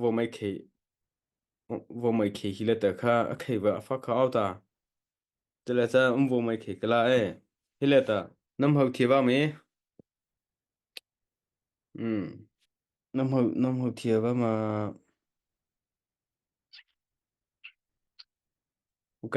vomei khei vomei khei hi la ta kha a khei va a fak kha au ta tele cha um vomei khei kala e hi la ta nam hau thi ba me mm nam hau nam hau thi ba ma ok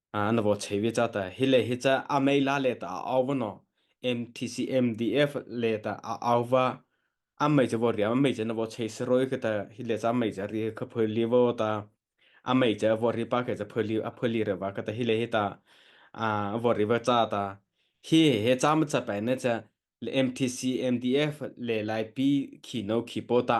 Ah, na vo chei ve cha ta hi le hi cha a mei la le ta au va no MTC MDF le ta a au va a mei cha vo ri a mei cha na vo chei se roi ke ta hi le cha mei cha ri kha phoi li vo ta a mei cha vo ri pa ke cha phoi li a phoi li re va ke ta hi le hi ta a vo ri va cha ta hi he cha ma cha pai ne cha le MTC MDF le lai pi khi no khi po ta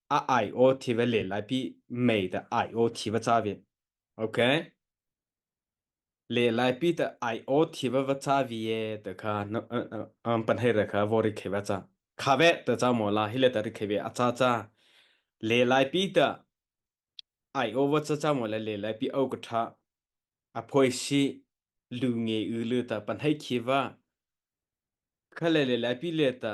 a IO thi ve le lai pi mei ta IO thi va cha ve okay le lai pi ta IO thi va va cha vi ye ta kha an pan hai ra kha vo ri kheva cha kha ve ta cha mo la hi le ta ri kheve a cha cha le lai pi ta IO va cha cha mo le le lai pi au ka tha a phoi si lu nge u lu ta pan hai khiva kha le le lai pi le ta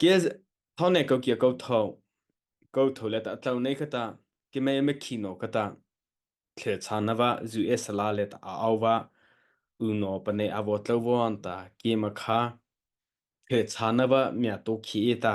Ke thau ne ko kia ko tho. Ko tho le ta tlo ne ka ta. Ke me me khi no ka ta. Tle cha na va zu e sala le ta a au va. Uno pa ne avo tlo vo an ta. Ke ma kha. Tle cha na va mia to khi e ta.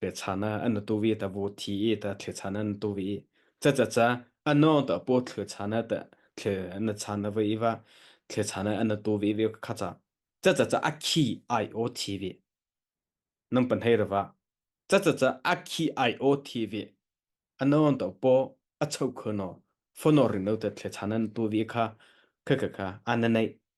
pe chan ah an tu vi ta vo thi i ta thli chan an tu vi cha cha cha ano ta po thli chan ah ta thli an chan da vi va thli chan ah an tu vi vi kha cha cha cha cha akhi ai o thi vi nang pan hei rava cha cha cha akhi ai o thi vi ano ta po a chau khno phono rin no ta thli chan an tu vi kha kha kha kha ananai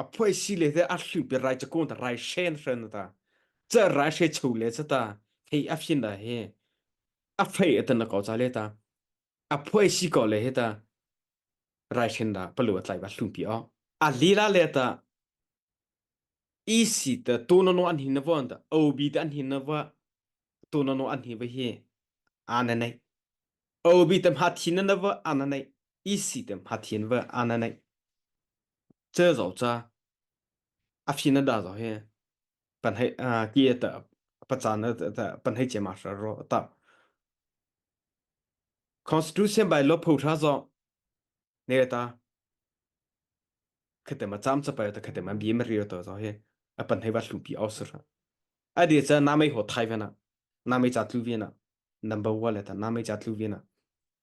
a phuai si le te a hlu pe rai chako ta rai shen shen ta cha rai she chho le cha ta hei a fin da he a fei atan na ko cha le ta a phuai si ko le he ta rai shen da palu atlai ba hlum pi o a lila le ta isi ta to no no an hin na von ta ob ta an hin na va to no no an hi va hi ana nei ob ta ma thin na va ana nei isi ta ma thin va ana nei Cel zo cha a fin da zo he pan hei uh, ki ta pachan ta pan hei chema sha ro ta constitution by law phu tha zo ne ta khate ma cham cha pa ta khate ma bi ma ri to zo he a pan hei wa thlu pi au sir a de cha na mai ho thai ve na na mai cha tlu ve na number 1 le ta na mai cha tlu ve na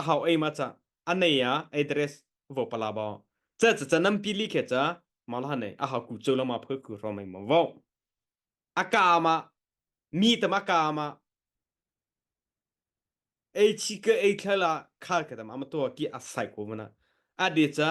a hau ei ma ca a nei a address vo pala ba cha cha cha nam pi li khe cha ma la ne a hau ku cheu la ma phul ku ro mai ma vo a ka ma mi ta ma ka ma ei chi ke ei thla la khal ka dam ama to ki a sai ko mana a de cha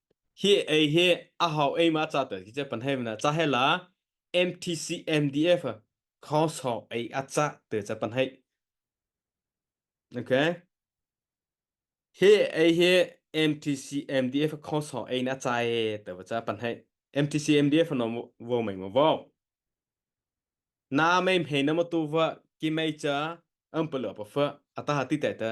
Hi ei hi a hau ei ma ca tel ki che pan hei mana cha he la MTC MDF khong song ei a cha te che pan hei okay hi ei hi MTC MDF khong song ei na cha e te ba cha pan hei MTC MDF no wo mai mo wo na mei mhe na mo tu va ki mei cha am palo pa fa ata ha ti te ta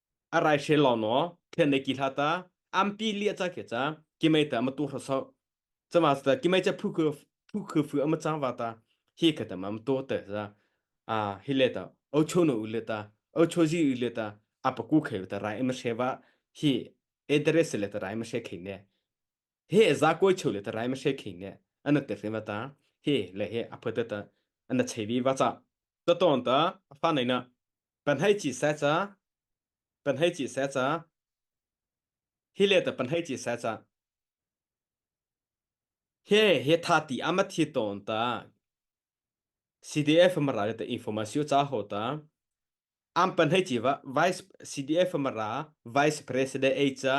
arai she lo no then ki hla ta ampi lia cha ke cha ki mai ta ma tu hra so chama sta ki mai cha phu ku phu ku fu ama cha wa ta hi ka ta ma to ta za a hi le ta o cho no u le ta o cho ji u le ta apa ku khe ta rai ma she wa hi address le ta rai ma she khe ne he za ko cheu le ta rai ma she khe ne ana te fe ma ta he le he apa ta ta ana che bi wa cha ta ton ta fa nei na Pan hei chi se cha. Pan hei chi se cha. Hi le ta pan hei chi se cha. He he tha ti ama thi ton ta. CDF mara ta information cha ho ta. Am pan hei chi va vice CDF mara vice president e cha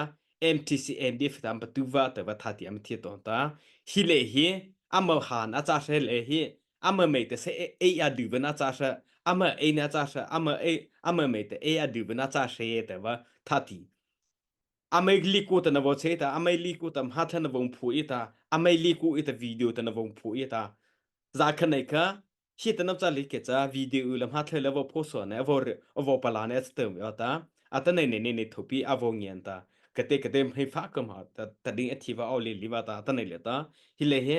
MTC NDF ta patuva ta va tha ti am thi ton ta. Hi le hi amal han acha shel e hi ama mei te se ei a du bana cha sha ama ei na cha sha ama ei ama mei te ei a du bana cha she te wa thati amai liku ta na vo che ta amai liku ta ha than na vong phu i ta amai liku i ta video ta na vong phu i ta za khan nei ka hi ta na cha li ke cha video la ha thle la vo pho so ne vo vo pala ne sta mi ta ata nei nei nei thopi avo ngian ta kate kate hei fa kam ha ta ta ding athiva au le liva ta ta nei le ta hi le he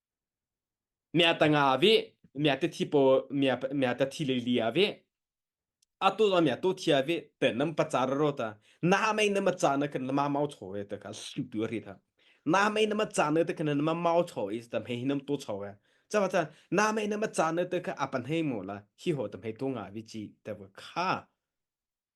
mia tanga vi mia te thi po mia mia ta thi le li a vi atu a mia to thia vi te nam pacha ro ta na mai na ma cha na kan ma mau cho e ta ka su tu ri tha na mai na ma cha na ta kan ma mau cho is ta he hinam to cho e cha ma cha na mai na ma cha na ta ka apan he mo la hi ho ta he to nga vi chi ta bu kha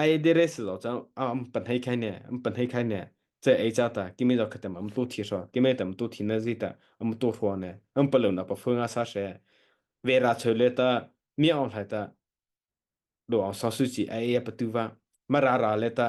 ai dere si lo chang am pan hei khai ne am pan hei khai ne che ai cha ta kimi jo khatem am tu thi ro kimi tam tu thi na zi ta am tu ro ne am pa lo na pa fu nga sa she ve ra choi le ta mi ong lai ta do ong so su chi ai ya pa tu va ma ra ra le ta